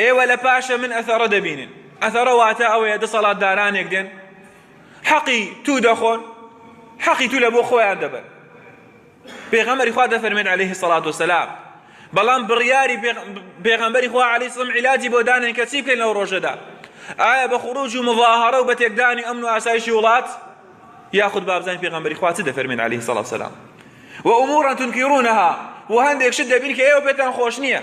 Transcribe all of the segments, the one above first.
ئێوە لە پاشە من ئەثەڕە دەبینن ئەثەڕە واتە ئەوەیە دەسەڵاتدارانێک دێن حەقی تو دەخۆن حەقی تو لە بۆ خۆیان دەبن پێغەمەری خوا دەفەرمێت عليه سەڵات وسلام بەڵام بڕیاری پێغەمبەری خوا علی سڵم عیلاجی بۆ دانێن کە چی بکەین لەو ڕۆژەدا ئایا بە خروج و مظاهرە و بە تێکدانی ئەمن و ئاسایشی وڵات یاخود بابزانین پێغەمبەری خوا چ دەفەرمێن علی سەڵات سلام و ئومورا تونکیڕونەها و هەندێک شت دەبین کە ئێوە پێتان خۆش نییە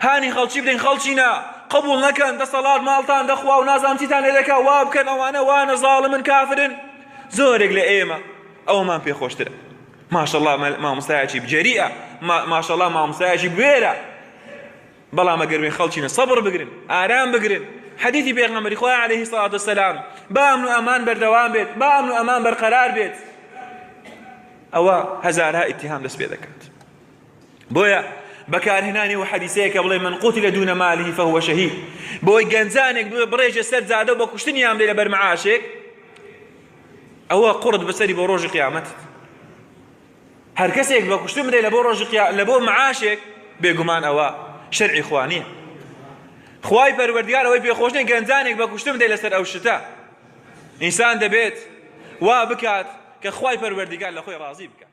هانی خەڵکی بدەین خەڵکی نا قبول نەکەن دەسەڵات ماڵتان دەخوا و نازام چیتان لێ دەکا وا بکەن ئەوانە وانە زاڵمن کافرن زۆرێک لە ئێمە ئەومان پێخۆشترە ماشەڵا مامۆستایەکی بجەریە ماشەڵا مامۆستایەکی بێرە بەڵام ئەگەروێن خەڵکینە سەبڕ بگرن ئارام بگرن حەدیثی پێغەمبەری خۆی عليه سڵات وسلام با ئەمن و ئەمان بەردەوام بێت با ئەمن و ئەمان بەرقەرار بێت ئەوە هەزارها ئیتهام دەست پێ دەکات بۆیە بەکارهێنانی و حەدیسەیە کە بڵێ من قوتی لە دوونە مالی فەهوە شەهید بۆی گەنجانێک بێ بڕێژە سەر جادە و بە کوشتنی یان بێ لە بەرمعاشێک ئەوە قڕت بەسەری بۆ ڕۆژی قیامەت هەر کەسێک بە کوشتن بدەی لە بۆ ڕۆژی لە بۆ معاشێک بێگومان ئەوە شەرعی خوانیە خوای پەروەردگار ئەوەی پێخۆشنی گەنجانێک بە کوشتن بدەی لەسەر ئەو شتە ئینسان دەبێت وا بکات کە خوای پەروەردگار لە خۆی ڕازی بکات